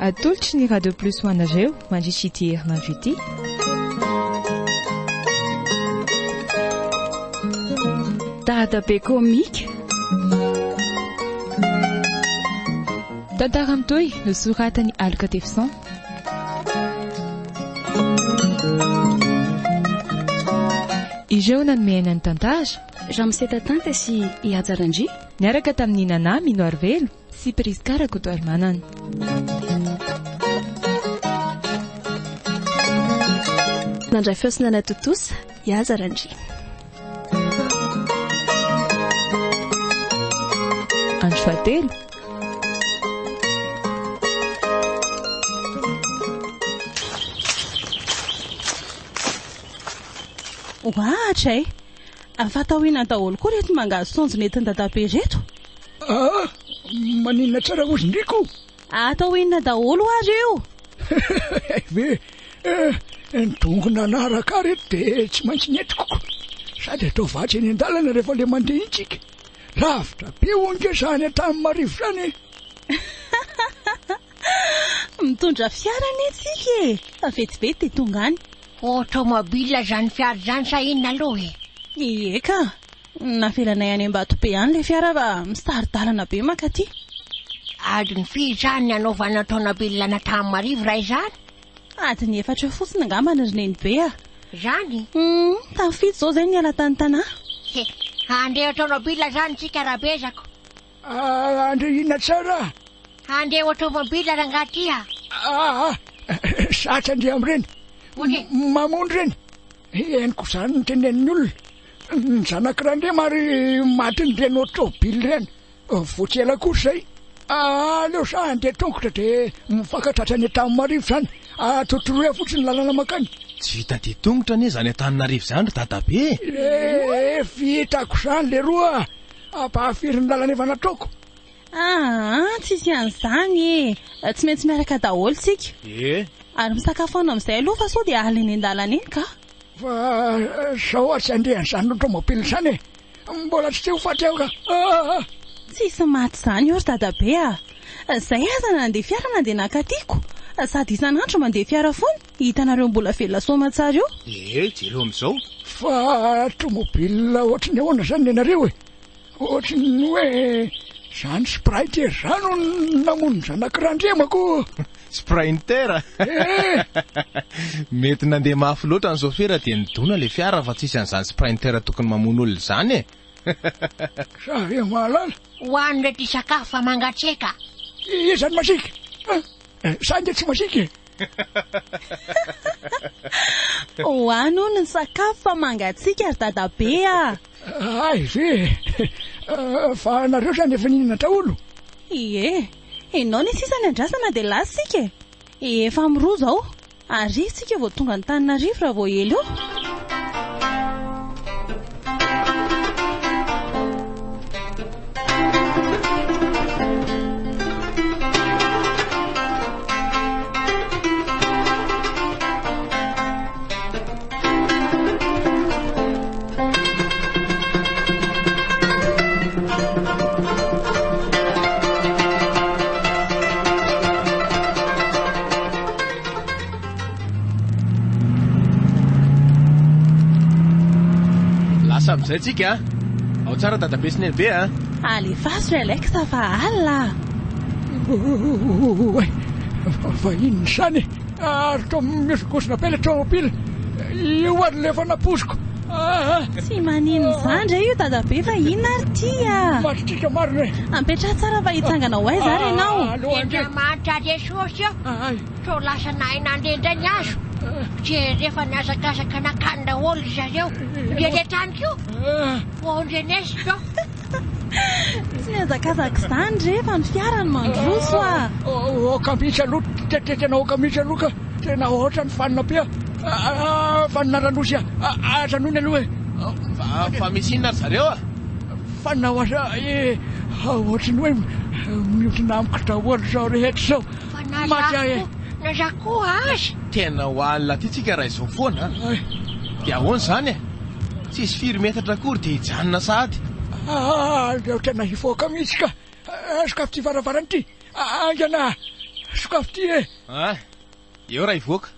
Atolotry ny Radio Plus ho anareo mandritra ity herinandro ity. Dadabe komika. Tantara mitohy nosoratan'i Aloka Tefison. Ireo nanome aina ny tantara. Ramose Tatanta sy i Haja Randria. Niaraka tamin'i Nana Mino Arivelo sy Prisca Rakotoarimanana. Nandray feo sy nanatontosa i Haja Randria. Andro fahatelo. Ohatra e! Afa taoriana daholo koa reto mangahazo saonjo nentin-dadabe reto. Ah! Maninona tsara hozy ndry ko! Atao inona daholo ary io? Hay ve, eh, ny dongona anaraka ary eto dia tsy maintsy nentikiko. Sady atao vatsy eny an-dalana rehefa ilay mandeha iny tsika. Lavitra be hono nge zany Antanimarivo zany e! Mitondra fiara anie tsika e, fa vetivety dia tonga any. Automobile zany fiara zany sa inona aloha e? Ie ka, Navelanay any Ambatobe any ilay fiara fa misitari-dalana be mankaty. Adiny firy izany ny hanaovana taona be lilana tamin'ny marivo raha izany? Adiny efatra eo fotsiny angambany ry Nenibe a! Izany? Humm, tamin'ny fito izao izay niala tany Tana. He, handeha ho taomabilina izany isika rabezako. Ah, handre inona tsara? Handeha ho taomabilina rangaha ty a! Ah, zatra andeha amin'ireny. Mamony ireny. Henoko izany ny tenenin'ny olona. Ny zanak'i Randriama ary matin'ny Renault Tôbily ireny. Vao tsy ela kosa izay, aleo sa handeha tongotra dia mivaka tratra any Antanimarivo izany. Atotoroy fotsiny ny lalana mankany. Tsy vita dia tongotra anie izany Antananarivo izany ry dadabe e! Eeh vitako izany leroa, ampahafiry ny lalana efa nataoko. Aa! tsisy an'izany e! tsy maintsy miaraka daholo tsika e! ary misakafo any amin'izay aloha fa sao dia alina eny an-dalana eny ka! fa sao ary tsy andrian'izany automobile izany e! mbola tsy te ho faty aho ka! aa! tsisy maty izany eo ry dadabe a! izay aza nandeha fiara nandeha naka tiako! sady isan'andro mandeha fiara foana, hitanareo mbola velona soamatsara io! ee! jereo amin'izao! fa automobile ohatry ny ahoana izany ny anareo e! Ohatry ny hoe zany Spriter zany no namono ny zanaky Randriamako. Sprinter? Mety nandeha mafy loatra ny sôfera dia nidona ilay fiara fa tsisy an'izany Sprinter tokony mamono olona izany e! Za ve mahalala? Ho any re ty sakafo fa mangatsiaka. Iza no masiaka? Za nge tsy masiaka e! Ho any hono ny sakafo fa mangatsiaka ry dadabe a! Hay ve e! Fa nareo zany efa nihinana daholo? Ie, enao ny sisa ny andrasana dia lasa isika e! Efa amin'ny roa izao, arivo isika vao tonga Antananarivo raha vao ela eo. Lasa amin'izay tsika. Ao tsara dadabe sy nenibe a. Alefaso ry Alex fa alina. Oay, vahiny izany e. Ary toa mihoson-kosona be ilay tomobile. Io ary ilay efa napoiziko. Tsy manin izany re io dadabe fa inona ary ity a! Mahatsikaritra marina e! Ampetraha tsara fa hitsangana ho aiza ary ianao? Andriamanitra Jesosy ô, sao lasa nahay nandeha indray ny hazo. Jereo fa nihazakazaka nankany daholo ry zareo rehetra ihany koa. Ô Ndrenesi ô! Tsy mihazakazaka izany rehefa ny fiara no mandroso a! Aoka mihitsy aloha, tena aoka mihitsy aloha ka! Tena hoatra ny fanina be a! Fanina Ranosy a! Aza noana aloha e! Fa misy inona ry zareo a? Fanina ho aza e! Hoatry ny hoe mihodina amiko daholo izao rehetra izao! Maty aho e! Naza koa aza! Tena ho any Latia tsika raha izao foana a! Dia ahoana izany e? Tsisy firy metatra akory dia hijanona sahady. Aza otrana hivoaka mihitsy ka! Sokafy ity varavarana ity! Aingana a! Sokafy ity e! Ay! Eo raha hivoaka!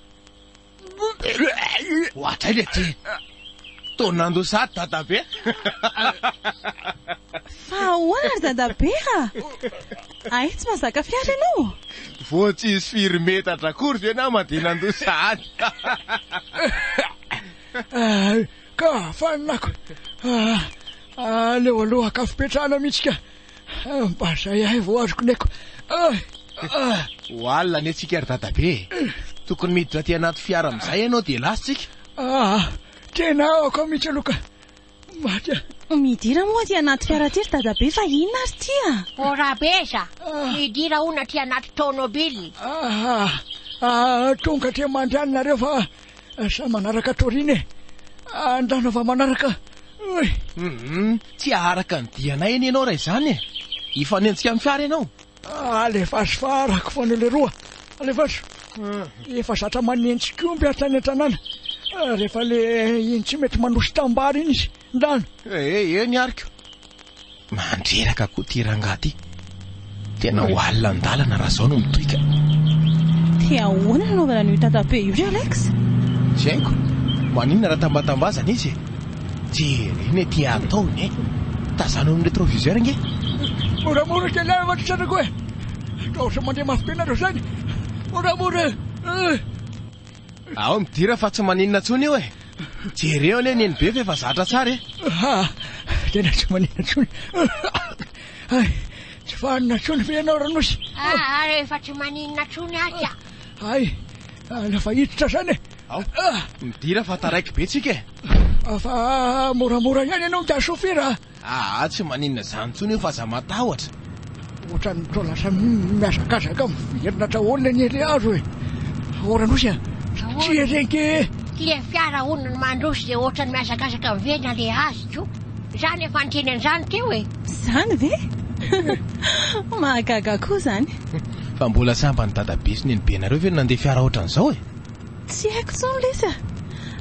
Hoatray le ty! Toa nandoa sahady dadabe! Fa ahoana ry dadabe a! Ay! Tsy mahazaka fiara ianao! Vao tsisy firy metatra akory ve nama dia nandoa sahady! Ay ka faninako aleo aloha akafipetrahana mihitsy ka mba zay ahy vao azoko ny aiko ay. Ho alina anie tsika ry dadabe e! Tokony miditra aty anaty fiara amizay ianao dia lasa tsika. Aa tena aoka mihitsy aloha ka. Maika. Midira moa aty anaty fiara aty ry dadabe fa inona ary ity a! O Rabeza, hidira hono aty anaty tômôbily. Aa aa tonga aty mandry any nareo fa samy manaraka Torina e! Andrano fa manaraka oy! Hum tsy aharaka ny dianay anie ianao raha izany e! Hifanenjika amin'ny fiara ianao? Alefaso fa arako foana leroa Alefaso Efa zatra manenjy komby aho tany an-tanàna Rehefa le iny tsy mety manoso tambara iny izy Ndano Eh eny ariko Mandreraka koa ty rangahy ty Tena ho alina an-dalana raha zao no mitoika Dia ahoana ny anaovana an'io tatabe io ry Alex? Tsy haiko, maninona raha tambatambazana izy e? Jereo ny aty ataony e! Tazano amin'ny retroviseur ange! Moramora kely aho ry zanako e! Ka ohatran'ny mandeha mafy be nareo zany! Moramora e! Ao midira fa tsy maninona tsony io e! Jereo anie ny NBF efa zatra tsara e! Aha! Tena tsy maninona tsony! Hay! Tsy vanona tsony ve ianao Ranosy? Aha! Efa tsy maninona tsony aky a! Hay! Lasa hiditra zany e! Ao, midira fa taraiky be tsika e! Fa moramora ihany ianao ngiahy chauffeur a! Aa tsy maninona izany intsony io fa aza matahotra! Ohatran'ny toa lasa mihazakazaka miverina hatrahoana anie ilay hazo e! Ahoana Nosy a! Tsia re ange e! Ilay fiara hono no mandroso dia ohatran'ny mihazakazaka miverina ilay hazo ko! Izaho no efa niteny an'izany teo e! Izany ve? Mahagaga koa izany! Fa mbola sambany dadabe sy nenibenareo ve no nandeha fiara ohatran'izao e! Tsy haiko intsony lesy a!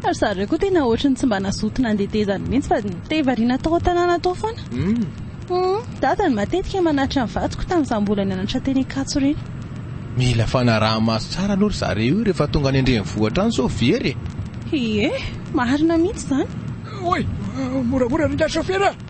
Ry zareo koa tena ohatry ny tsy mba nazoto nandeha tezany mihitsy fa te variana tao an-tanàna tao foana. Humm! Dada no matetika manatitra ny vadiko tamin'izaho mbola nianatra teny Ankatso ireny. Mila fanaraha-maso tsara aloha ry zareo io rehefa tonga any an-drenivohitra any sao very e! Ie, marina mihitsy izany. Oay! Moramora ry ngahy chauffeur a!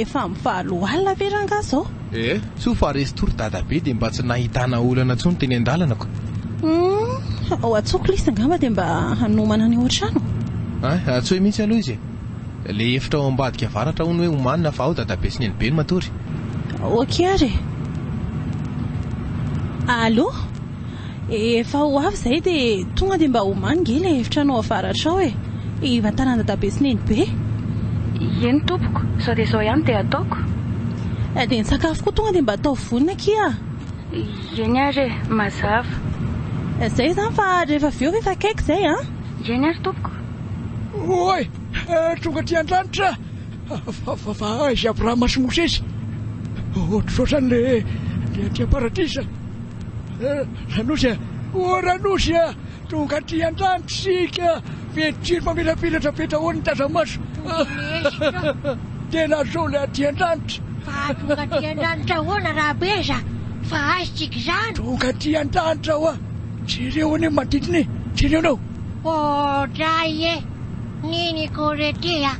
efa amin'ny valo alina ve rangahy izao? Eh, soa fa resy tory dadabe dia mba tsy nahitana olana intsony teny an-dalana ko. Hmm, ao Atsoa Clis angamba dia mba hanomana ny ao an-trano. Ah, Atsoy mihitsy aloha izy. Le efitra ao ambadika avaratra hono hoe omanina fa ao dadabe sy nenibe no matory. Ok ary e. Allo? Efa ho avy zay de tonga de mba omano nge le efitranao avaratra ao e. Hivantanan'i dadabe sy nenibe. Eny tompoko, zao de zao ihany de ataoko. De ny sakafo koa tonga de mba ataovy vonona akia a. Eny ary e, mazava. Zay zany fa rehefa avy eo efa akaiky zay a. Ndrainy ary tompoko. Oay! Tonga aty antrano tra! Fa aiza Abrahama sy Mosesy? Ohatrotrany le aty am-paradisa. Ranosy a! Oa Ranosy a! Tonga aty antrano tsika! Mety jiro mamirapiratra be daholo ny taza-maso. Tena azonao le aty an-tranitra. Fa tonga aty an-tranitra ahoana Rabeza? Fa aiza tsika izany? Tonga aty an-tranitra oa! Jereo anie manodidina e! Jereo anao! Oodray e! Niniko re ty a!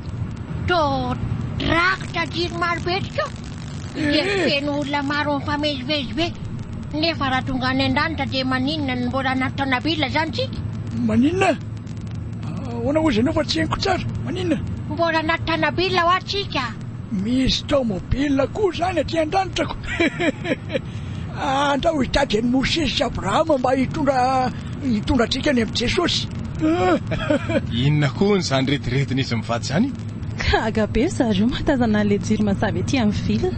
Todrakotra jiro maro be tokoa dia feno olona maro mifamezivezy be. Nefa raha tonga any an-danitra dia maninona no mbola anaty tanabila izany tsika? Maninona? Ahoana hozy ianao fa tsy henoko tsara? Maninona? Mbola anaty tanabila hoa tsika! Misy tomobile koa zany aty andranitrako andao hitady an'i Mosesy sy Abrahama mba hitondra hitondra antsika any amin'i Jesosy. Inona hono izany rediredin'izy mivady izany? Gaga be ry zareo mahatazana an'ilay jiro mazava ety amin'ny ville.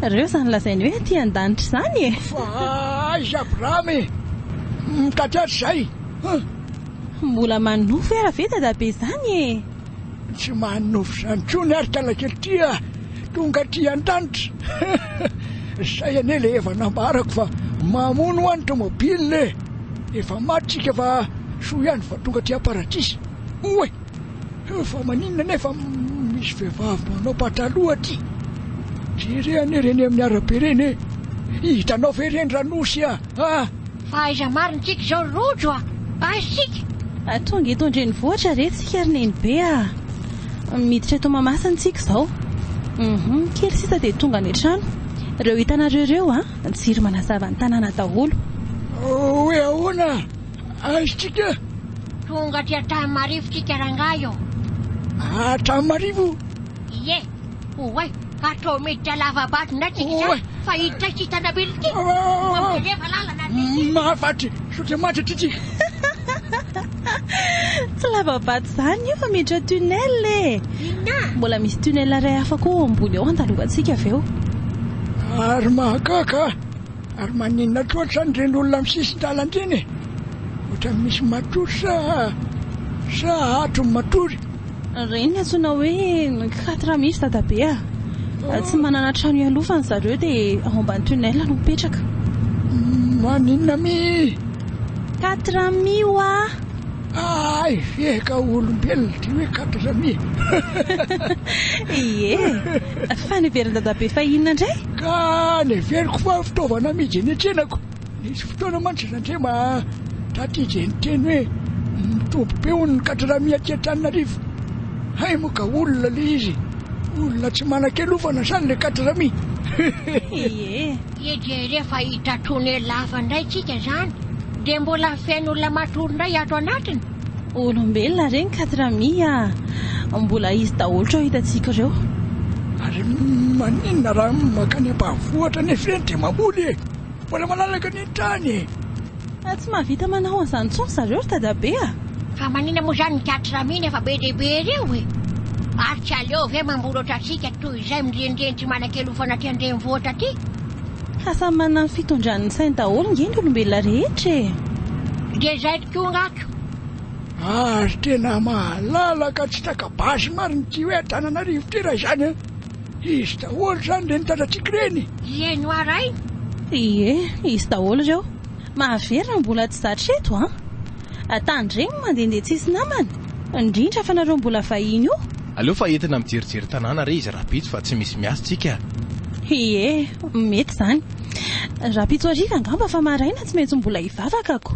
Ireo izany lazainy hoe aty an-danitra izany e! Fa aiza Abrahama e! Mitady azy izay! Mbola manofy ara ve dadabe izany e! Tsy mahay nofy izany intsony ary kalakely ty a! Tonga aty an-danitra Zay anie ilay efa nambarako fa mamono hoa ny tomobile e! Efa maty tsika fa soa ihany fa tonga aty am-paradisa! Oay! Fa maninona nefa misy vehivavy manao pataloha aty? Jereo anie ireny amin'ny arabe ireny e! Hitanao ve ireny raha nosy a! Fa aiza marigny tsika izao ry Rojo a! Aiza tsika? A tonga eto an-drenivohitra re tsika ry Nenibe a! Miditra eto Mahamasina tsika izao. Hum kely sisa dia tonga any an-trano. Ireo hitanareo ireo a! Jiro manazava ny tanàna daholo. Hoe ahoana? Aiza tsika? Tonga aty Antanimarivo tsika rangahy ô! Antanimarivo? Ie. Oay! Atao miditra lava-bato indray tsika izany fa hiditra ity tanam-be ity. Mampilefa lalana ry lehibe. Mahafatry saotra matra ity tsika. Tsy lava-bato izany io fa miditra tunnel e. Inona? Mbola misy tunnel iray hafa koa ao ambony ao andalovantsika avy eo. Ary mahagaga a! Ary maninona loatra izany ireny olona amin'ny sisin-dalana ireny e? Ohatran'ny misy matory sa sa ato ny matory? Ireny antsoina hoe quatre mihintsy dadabe a! Tsy manana trano ialofany zareo dia ao ambany tunnel no mipetraka. Maninona mi? Quatre mi wa! Hay ve ka olombelona ity hoe quatre mi? Ie! Fa neverin'i dadabe fa inona indray? Ka neveriko fa fitaovana amidy eny an-tsenako. Nisy fotoana mantsy izy ange mba tratry izay niteny hoe mitombo be hono ny kadradramy aty Antananarivo. Hay moa ka olona ilay izy, olona tsy manan-kialofana sa ilay kadradramy? Hihiee. Ye dia rehefa hita tonner lava indray tsika izany dia mbola feno olona matory indray ato anatiny? Olombelona re ny kadradramy a! Mbola izy daholo trao hitantsika ireo. Ary maninona raha makany ambanivohitra anefa ireny dia mamboly e! Mbola malalaka ny trano e! Fa tsy mahavita manao an'izany intsony ry zareo ry dadabe a! Fa maninona moa izany ny Cat Ramine efa be dia be ireo e! Ary tsy aleo ve mamoratra antsika toy izay mirenireny tsy manan-kelofana aty an-drenivohitra aty? Fa samy manana ny fitondrany ny sainy daholo nge ny olombelona rehetra e! Dia izay tokoa ngah ko! Ary tena malalaka tsy taka-basy marina ity hoe Antananarivo ity raha izany a! Izy daholo zany reny tatatiko reny. Ie no arahina. Ie izy daholo reo. Mahavery raha mbola tsy zatra eto an! Tandremo mandehandeha tsisy namana, indrindra fa nareo mbola vahiny io. Aleo fa entina mijerijery tanàna re izy rahampitso fa tsy misy miasa tsika a! Ie mety zany. Rahampitso hariva angamba fa maraina tsy maintsy mbola hivavaka ko.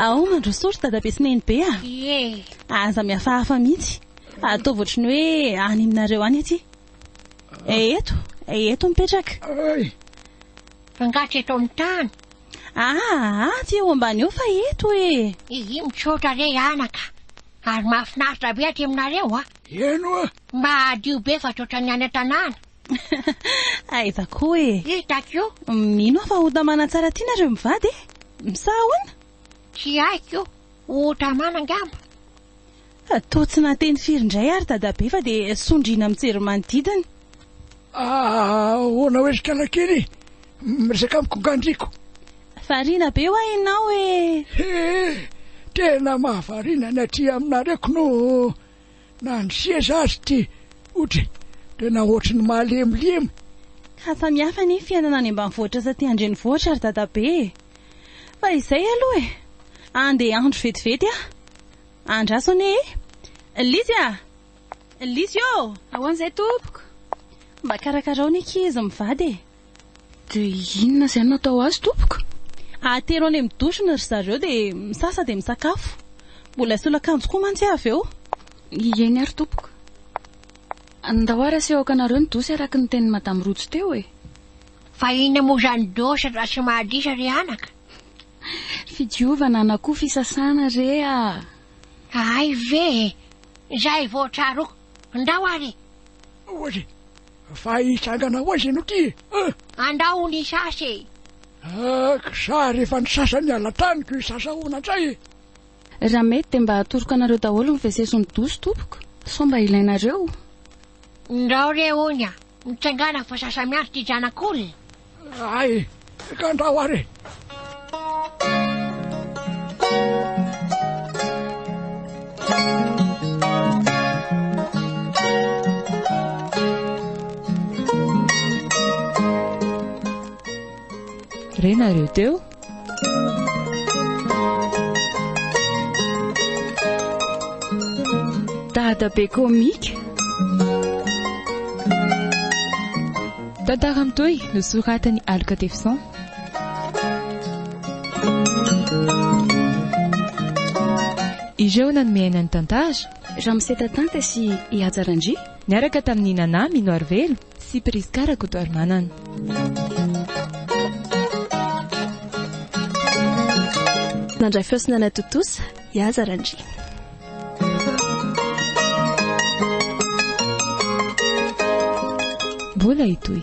Ao mandrosory dadabe sy nenibe a. Ie. Aza mihafahafa mihitsy. Ataovy ohatry ny hoe any aminareo any aty. Eto, eto mipetraka. Ay. Fangatry eto amin'ny tany. Ahaa, aty eo ambany eo fa eto e! Hihi, misaotra re anaka. Ary mahafinaritra be aty aminareo a! Heno a! Mba hadio be fa tsy ohatran'ny any an-tanàna. Aiza koa e! Hitako io. Mino aho fa ho tamana tsara aty nareo mivady e! Misaha ahoana? Tsy haiko, ho tamana angamba. Toa tsy nahateny firy indray ary dadabe fa dia sondriana mijery manodidina. Ahoana oe ry kalakely miresaka amiko nga ndriko. Variana be hoa ianao ee. He! tena mahavariana ny aty aminareo kno na ny seza aza ity otre tena ohatry ny mahalemilemy. Ka samihafa anie fiainana any ambanivohitra sy aty andrenivohitra ry dadabe e. Fa izay aloha e. Andeha andro vetivety aho. Andraso anie e! Lizzy a! Lizzy ô! Ahoana izay tompoko? Mba karakarao ny ankizy mivady e! Dia inona izay no atao azy tompoko? Atero any amin'ny douche-ny ry zareo dia misasa dia misakafo. Mbola asolo akanjo koa mantsy aho avy eo. Eny ary tompoko. Andao ary aseho aokanareo ny douche araka ny tenin'i Madame Rojo teo e! Fa inona moa izany douche raha tsy mahadisa ry anaka? Fidiovana na koa fisasana re ah! Hay ve e! Izay vao tsaroako. Ndao ary e! Ahoana e! Fa hitsangana ho aiza ianao ity e! Ah! Andao ho nisasa e! Ak! Za rehefa nisasa ny alatraniko hisasa ahoana indray e! Raha mety dia mba atoroko anareo daholo ny wc sy ny douche tompoko sao mba ilainareo. Ndao re hono a! Mitsangana fa sasa miandry ity zanak'olona. Ay, kandrao ary e! Re nareo teo? Dadabe Comique. Tantara mitohy nosoratan'i Aloka Tefison. Ireo nanome aina ny tantara. Ramose Tatanta sy i Haja Randria. Niaraka tamin'i Nana Minoarivelo. sy Prisca Rakotoarimanana. Nandray feo sy nanatontosa i Aza Randria. Mbola hitohy.